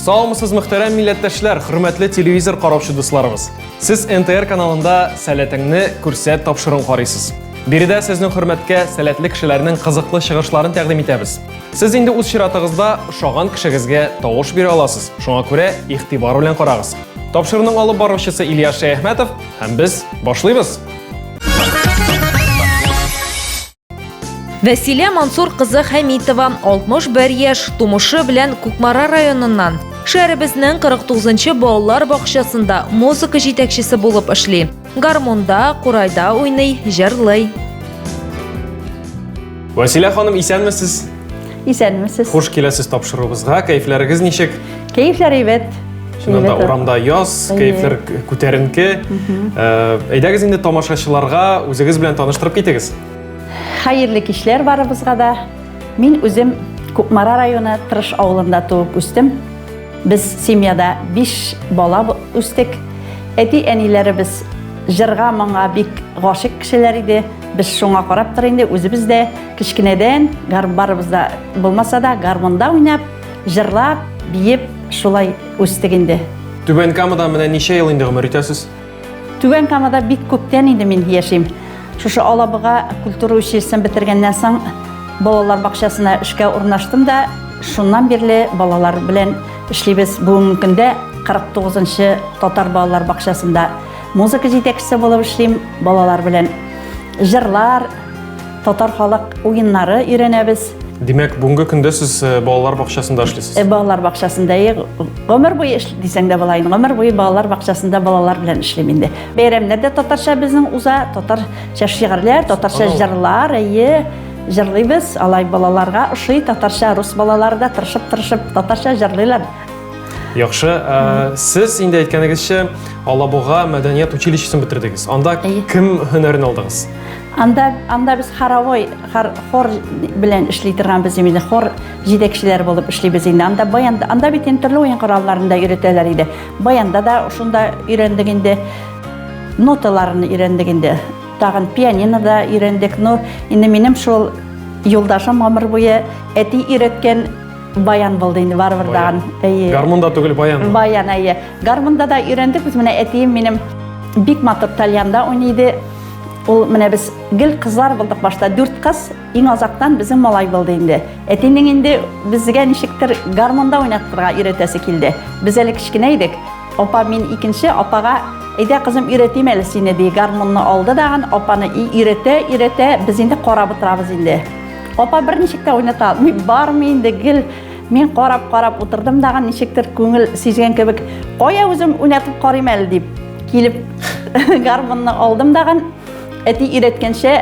Саумысыз мөхтәрәм милләттәшләр, хөрмәтле телевизор караучы дусларыбыз. Сез НТР каналында сәләтеңне күрсәт тапшыруын карыйсыз. Биредә сезнең хөрмәткә сәләтле кешеләрнең кызыклы чыгышларын тәкъдим итәбез. Сез инде үз чиратыгызда ошаган кешегезгә тавыш бирә аласыз. Шуңа күрә игътибар белән карагыз. Тапшыруның алып баручысы Илья Шәяхмәтов һәм без башлыйбыз. Вәсилә Мансур кызы Хәмитова 61 яшь тумышы белән Кукмара районыннан. Шәһәребезнең 49 нчы балалар бакчасында музыка җитәкчесе булып эшли. Гармунда, курайда уйный, җырлый. Василә ханым, исәнмесез? Исәнмесез. Хуш киләсез тапшыруыбызга. Кәйфләрегез ничек? Кәйфләр әйбәт. Чыннан да урамда яз, кәйфләр күтәренке. Э, әйдәгез инде тамашачыларга үзегез белән таныштырып китегез. Хәерле кичләр барыбызга да. Мин үзем Кукмара районы Тырыш авылында туып үстем. Без семьяда биш бала үстек. Әти-әниләребез җырга, моңга бик гашыйк кешеләр иде. Без шуңа карап тор инде, үзебез дә кечкенәдән барыбыз да булмаса да гармунда уйнап, җырлап, биеп шулай үстек инде. Түбән Камада менә ничә ел инде гомер итәсез? Түбән Камада бик күптән инде мин яшим. Шушы Алабыга культура училищесын бетергәннән соң балалар бакчасына эшкә урнаштым да, шуннан бирле балалар белән эшлибез. Бүгенге көндә 49-нчы татар балалар бакчасында музыка җитәкчесе булып эшлим, балалар белән җырлар, Татар халык уеннары өйрәнәбез. Димәк, бүгенге көндә сез э, балалар бакчасында эшлисез? Э, балалар бакчасында э, гомер буе эш дисәң дә була инде. Гомер буе балалар бакчасында балалар белән эшлим инде. Бәйрәмнәр дә татарча безнең уза, татарча шигырьләр, татарча җырлар, әйе җырлыйбыз. Алай балаларга ошый татарча, рус балалары да тырышып-тырышып татарча җырлыйлар. Яхшы, ә, сез инде әйткәнегезчә, Алабуга мәдәният училищесын бетердегез. Анда кем һөнәрен алдыгыз? Анда, анда без хоровой, хор, хор белән эшли торган без инде, хор җитәкчеләре булып эшлибез инде. Анда баян, анда бит инде төрле уен коралларында өйрәтәләр иде. Баянда да шунда өйрәндек инде. Ноталарны өйрәндек инде. Тагын пианино да өйрәндек. Но инде минем шул юлдашым гомер буе әти өйрәткән баян булды инде барыбер дагын. Әйе. Гармунда түгел баян. Баян әйе. Гармунда да өйрәндек без менә әтием минем бик матур тальянда уйныйды. Ул менә без гел кызлар булдык башта, дүрт кыз, иң азактан безнең малай булды инде. Әтинең инде безгә ничектер гармонда уйнатырга өйрәтәсе килде. Без әле кечкенә идек. Апа мин икенче, апага әйдә кызым өйрәтим әле сине ди. Гармонны алды дагын, апаны өйрәтә, өйрәтә, без инде карап утырабыз инде. Апа берничек тә уйната алмый, бармый инде гел мин карап-карап утырдым дагын ничектер күңел сизгән кебек, кая үзем уйнатып карыйм әле дип. Килеп гармунны алдым дагын, әти өйрәткәнчә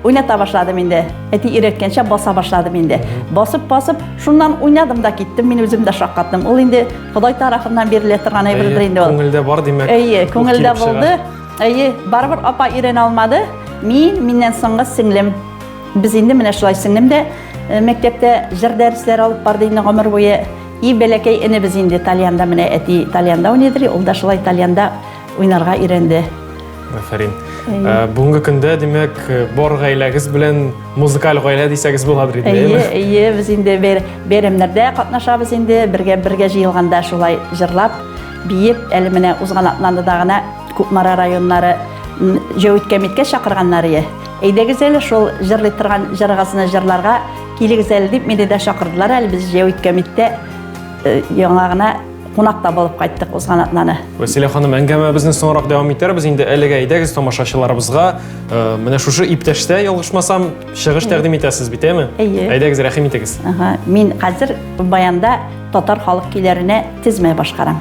уйната башладым инде. Әти өйрәткәнчә баса башладым инде. Басып-басып, шуннан уйнадым да киттем, мин үзем дә шаккаттым. Ул инде Ходай тарафыннан бирелә торган әйбердер инде ул. Күңелдә бар димәк. Әйе, күңелдә булды. Әйе, барыбер апа өйрәнә алмады. Мин, миннән соңгы сеңлем. Без инде менә шулай сеңлем дә мәктәптә җыр дәресләре алып барды инде гомер буе. И бәләкәй энебез инде тальянда менә әти тальянда уйныйдыр, ул да шулай тальянда уйнарга өйрәнде. Афәрин. Ә, бүгенге көндә, димәк, бар гаиләгез белән музыкаль гаилә дисәгез буладыр инде, әйеме? Әйе, әйе, без инде бәйрәмнәрдә катнашабыз инде, бергә бергә җыелганда шулай җырлап, биеп, әле менә узган атнада гына Кукмара районнары җәүит кәмиткә чакырганнар ие. Әйдәгез әле шул җырлый торган җырыгызны җырларга Килегез әле дип мине дә чакырдылар әле без җәй үткәмиттә э, яңа гына кунакта булып кайттык узган атнаны. Василия ханым, әңгәмәбезне соңрак дәвам итәрбез. Инде әлегә әйдәгез тамашачыларыбызга. Э, менә шушы иптәштә ялгышмасам, чыгыш тәкъдим итәсез бит, әме? Әйе. Әйдәгез, рәхим итегез. Ага, мин хәзер баянда татар халык көйләренә тезмә башкарам.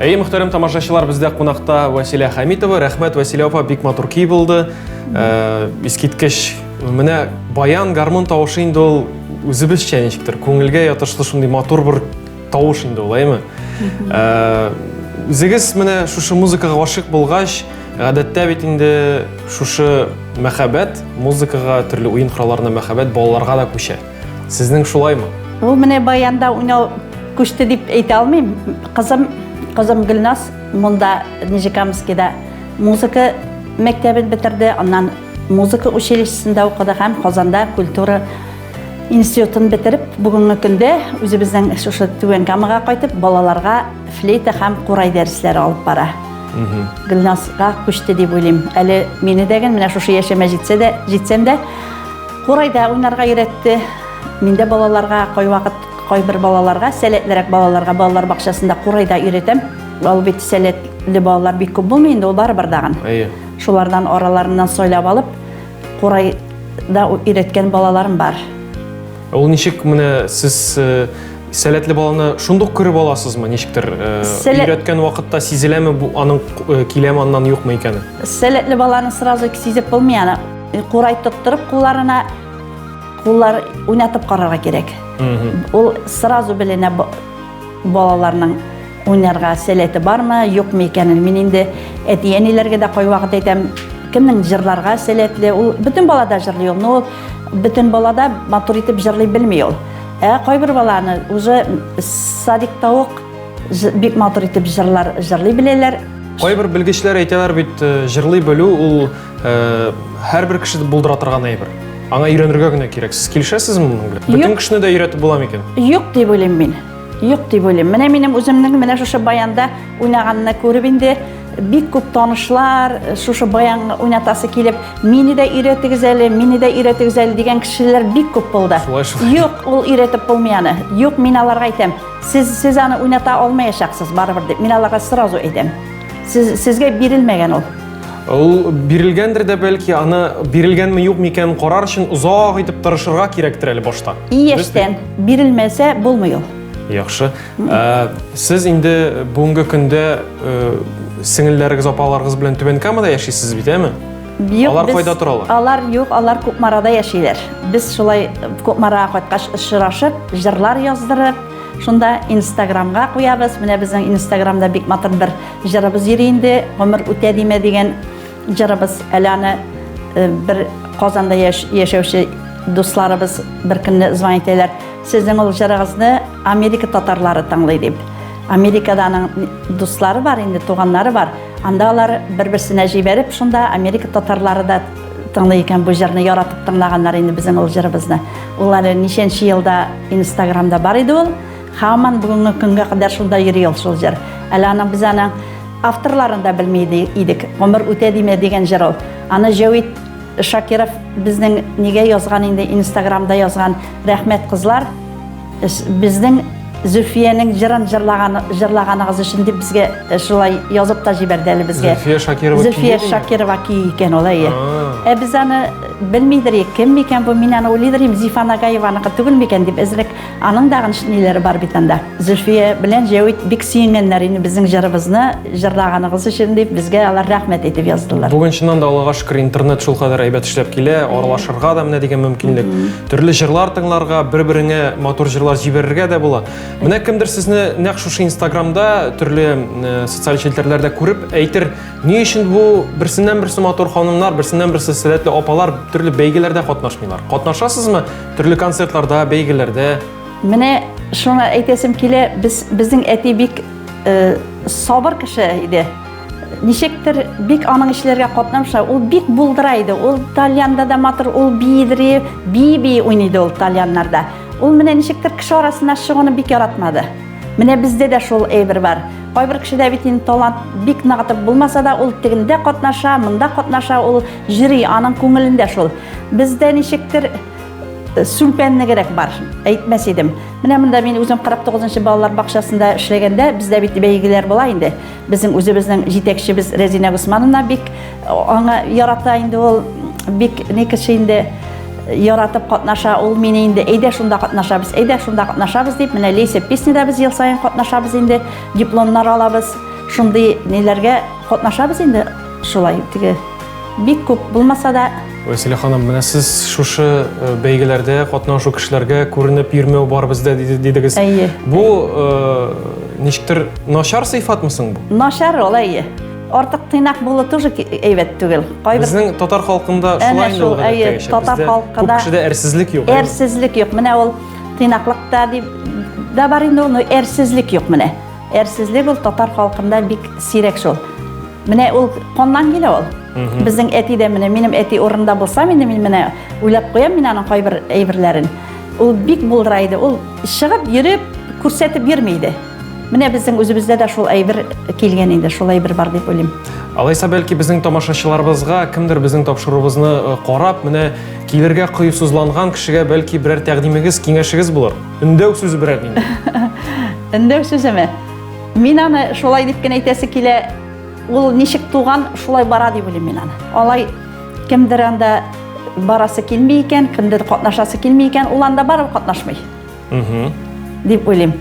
Әйе, мөхтәрәм тамашачылар, бездә кунакта Василия Хамитова. Рәхмәт, Василия апа, бик матур көй булды. Э, Искиткеч. Менә баян гармон тавышы инде ул үзебезчә ничектер, күңелгә ятышлы шундый матур бер тавыш инде ул, әйеме? Э, Үзегез менә шушы музыкага гашыйк булгач, Гадәттә бит инде шушы мәхәббәт музыкага, төрле уен коралларына мәхәббәт балаларга да күчә. Сезнең шулаймы? Бу менә баянда уйнау күчте дип әйтә алмыйм. Кызым, кызым Гөлназ монда Нижекамскида музыка мәктәбен бетерде, аннан музыка училищесында укыды һәм Казанда культура институтын бетереп, бүгенге көндә үзебезнең шушы Түбән Камага кайтып, балаларга Флейта һәм курай дәресләре алып бара. Гөлназга күчте дип уйлыйм. Әле мине дә гел менә шушы яшемә җитсә дә, җитсәм дә курайда уйнарга өйрәтте. Мин дә балаларга кайвакыт кайбер балаларга, сәләтлерәк балаларга балалар бакчасында курайда өйрәтәм. Ул бит сәләтле балалар бик күп булмый инде, ул барыбер дагын. Әйе. Шулардан араларыннан сайлап алып, курайда өйрәткән балаларым бар. Ул ничек менә сез сәләтле баланы шундук күреп аласызмы ничектер Сәлә... өйрәткән вакытта сизеләме бу аның киләме аннан юкмы икәне сәләтле баланы сразу сизеп булмый аны курай тоттырып кулларына куллар уйнатып карарга кирәк ул сразу беленә Балаларның уйнарга сәләте бармы, юкмы икәнен мин инде әти-әниләргә дә кайвакыт әйтәм, кемнең җырларга сәләтле, ул бөтен балада җырлый ул, но бөтен балада матур итеп җырлый белми ул. Ә кайбер баланы уже садикта ук бик матур итеп җырлар җырлый беләләр. Кайбер белгечләр әйтәләр бит, э, җырлый белү ул Э, һәрбер кешене булдыра торган әйбер аңа өйрәнергә генә кирәк сез килешәсезме моның белән бөтен кешене дә өйрәтеп буламы икән юк дип уйлыйм мин юк дип уйлыйм менә минем үземнең менә шушы баянда уйнаганны күреп инде бик күп танышлар э, шушы баян уйнатасы килеп мине дә өйрәтегез әле мине дә өйрәтегез әле дигән кешеләр бик күп булды юк ул өйрәтеп булмый аны юк мин аларга әйтәм сез сез аны уйната алмаячаксыз барыбер дип мин аларга сразу әйтәм сез сезгә бирелмәгән ул Ул бирелгәндер дә бәлки, аны бирелгәнме юк микән карар өчен озак итеп тырышырга кирәктер әле башта. Ияштән бирелмәсә булмый ул. Яхшы. Ә, сез инде бүгенге көндә э, сеңелләрегез, апаларыгыз белән Түбән Камада яшисез бит, әме? Юк, Алар без- кайда торалар? Алар юк, алар Кукмарада яшиләр. Без шулай Кукмарага кайткач очрашып, җырлар яздырып, шунда Инстаграмга куябыз. Менә безнең Инстаграмда бик матур бер Җырыбыз йөри инде, гомер үтә димә дигән җырыбыз. Әле аны э, бер Казанда яшәүче дусларыбыз бер көнне звонить итәләр. Сезнең ул җырыгызны Америка татарлары тыңлый дип. Америкада аның дуслары бар инде, туганнары бар. Анда алар бер-берсенә җибәреп, шунда Америка татарлары да тыңлый икән бу җырны яратып тыңлаганнар инде безнең ул җырыбызны. Ул әле ничәнче елда Инстаграмда бар иде ул. Хаман бүгенге көнгә кадәр шунда йөри ул шул җыр. Әле аның без аны авторларын да белми идек. Гомер үтә димә дигән җыр ул. Аны Җәвит Шакиров безнең нигә язган инде инстаграмда язган рәхмәт кызлар безнең Зөфиянең җырын җырлаган җырлаганыгыз өчен дип безгә э, шулай язып та җибәрде әле безгә. Зөфия Шакирова Зөфия Шакирова ки икән ул әйе. Ә без аны белмидер кем микән бу мин аны уйлыйдыр идем Зифа Нагаеваныкы түгел микән дип әзрәк Аның дагын ниләре бар бит анда. Зөлфия белән Җәвит бик сөенгәннәр инде безнең җырыбызны җырлаганыгыз өчен дип, безгә алар рәхмәт итеп яздылар. Бүген чыннан да Аллага шөкер, интернет шул кадәр әйбәт эшләп килә, аралашырга да менә дигән мөмкинлек. Төрле җырлар тыңларга, бер-береңә матур җырлар җибәрергә дә була. Менә кемдер сезне нәкъ шушы Инстаграмда, төрле э, социаль челтәрләрдә күреп әйтер, ни өчен бу берсеннән-берсе матур ханымнар, берсеннән-берсе сәләтле апалар төрле бәйгеләрдә катнашмыйлар? Катнашасызмы? Төрле концертларда, бәйгеләрдә. Менә шуны әйтәсем килә, без безнең әти бик э, сабыр кеше иде. Ничектер бик аның эшләргә катнамша, ул бик булдыра иде. Ул тальянда да матур, ул биидри, би-би уйныйды ул тальяннарда. Ул менә ничектер кеше арасына чыгуны бик яратмады. Менә бездә дә шул әйбер бар. Кайбер кешедә бит инде талант бик ныгытып булмаса да, ул тегендә катнаша, монда катнаша, ул Җыри аның күңелендә шул. Бездә ничектер сүлпәннегерәк бар, әйтмәс идем. Менә монда мин үзем 49-нчы балалар бакчасында эшләгәндә, бездә бит бәйгеләр була инде. Безнең үзебезнең җитәкчебез Рәзинә Госмановна бик аңа ярата инде ул, бик ни кеше инде яратып катнаша ул мине инде әйдә шунда катнашабыз әйдә шунда катнашабыз дип менә лейся песняда без ел саен катнашабыз инде дипломнар алабыз шундый ниләргә катнашабыз инде Шулай теге бик күп булмаса да. Вәсилә ханым, менә сез шушы э, бәйгеләрдә катнашу кешеләргә күренеп йөрмәү бар бездә дидегез. Әйе. Бу э, ничектер начар сыйфатмы соң бу? Начар ул, әйе. Артык тыйнак булу тоже әйбәт түгел. Кайбер Безнең татар халкында шулай инде ул гадәттә яшәп. Татар халкында күп кешедә әрсезлек юк. Әрсезлек юк. Менә ул тыйнаклыкта дип да бар инде ул, но әрсезлек юк менә. Әрсезлек ул татар халкында бик сирәк шул. Менә ул коннан килә ул. Безнең әти дә менә минем әти урында булса, мин мин менә уйлап куям мин аның кайбер әйберләрен. Ул бик булдыра иде. Ул чыгып йөреп күрсәтеп йөрми иде. Менә безнең үзебездә дә шул әйбер килгән инде, шул әйбер бар дип уйлыйм. Алайса бәлки безнең тамашачыларыбызга кемдер безнең тапшыруыбызны э, карап, менә килергә кыюсызланган кешегә бәлки берәр тәкъдимегез, киңәшегез булыр. Өндәү сүзе берәр инде. Өндәү сүземе? Мин аны шулай дип кенә әйтәсе килә. Ул ничек туган, шулай бара дип уйлыйм мин аны. Алай кемдер анда барасы килми икән, кемдер катнашасы килми икән, ул анда барып катнашмый. Угу. Дип уйлыйм.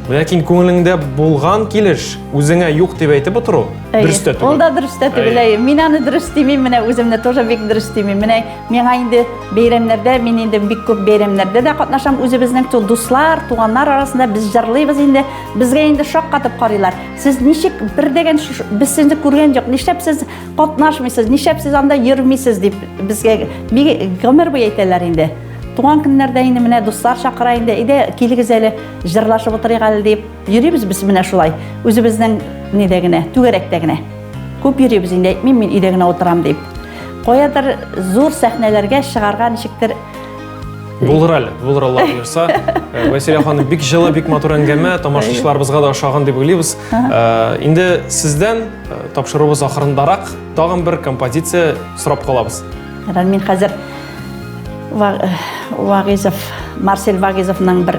Ләкин күңелеңдә булган килеш үзеңә юк дип әйтеп отыру дөрестә түгел. Ул да дөрестә түгел. Мин аны дөрес димим, менә үземне тоже бик дөрес димим. Менә Миңа инде бәйрәмнәрдә, мин инде бик күп бәйрәмнәрдә дә катнашам. Үзебезнең ту дуслар, туганнар арасында без җырлыйбыз инде. Безгә инде шаккатып карыйлар. Сез ничек бер дигән без сезне күргән юк. Нишләп сез катнашмыйсыз? Нишләп сез анда йөрмисез дип безгә бик гомер буе әйтәләр инде. Туган көннәрдә инде менә дуслар чакыра инде. Иде килегез әле, җырлашып утырыйк әле дип. Йөрибез без менә шулай, үзебезнең нидә генә, түгәрәктә генә. Күп йөрибез инде, әйтмим мин өйдә генә утырам дип. Каядыр зур сәхнәләргә чыгарга ничектер Булыр әле, булыр Алла буйырса. Э, Вәсилә ханым, бик жылы, бик матур әңгәмә, тамашачыларыбызга да ошаган дип уйлыйбыз. Э, инде сездән э, тапшыруыбыз ахырындарак тагын бер композиция сорап калабыз. Мин хәзер Вагизов, Марсель Вагизовның бер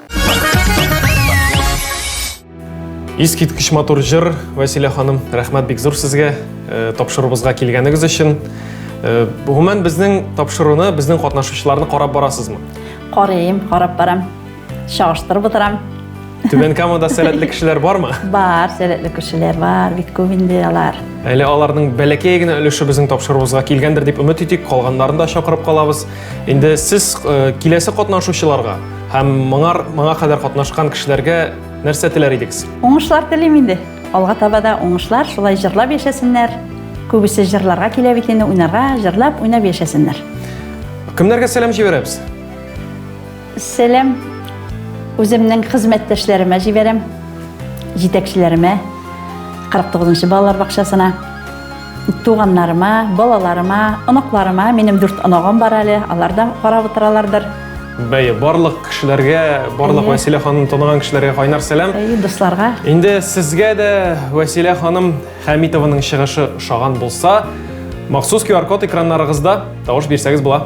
Искиткеч матур җыр, Василия ханым, рәхмәт бик зур сезгә, э, тапшыруыбызга килгәнегез өчен. Э, гомумән безнең тапшыруны, безнең катнашучыларны карап барасызмы? Карыйм, карап барам. Чагыштырып утырам. Түбән Камада сәләтле кешеләр бармы? Бар, сәләтле кешеләр бар, бик күп инде алар. Әле аларның бәләкәй генә өлеше безнең тапшыруыбызга килгәндер дип өмет итик, калганнарын да чакырып калабыз. Инде сез э, киләсе катнашучыларга Һәм моңар моңа кадәр катнашкан кешеләргә нәрсә теләр идегез? Уңышлар телим инде. Алга таба да уңышлар, шулай җырлап яшәсеннәр. Күбесе җырларга килә бит инде, уйнарга, җырлап, уйнап яшәсеннәр. Кемнәргә сәлам җибәрәбез? Сәлам үземнең хезмәттәшләремә җибәрәм, җитәкчеләремә, 49 нчы балалар бакчасына. Туганнарыма, балаларыма, оныкларыма, минем дүрт оныгым бар әле, алар да карап утыралардыр. Бәй, барлык кешеләргә, барлык Әйе. Вәсилә ханым таныган кешеләргә кайнар сәлам. Әйе, дусларга. Инде сезгә дә Вәсилә ханым Хәмитованың чыгышы ошаган булса, махсус QR-код экраннарыгызда тавыш бирсәгез була.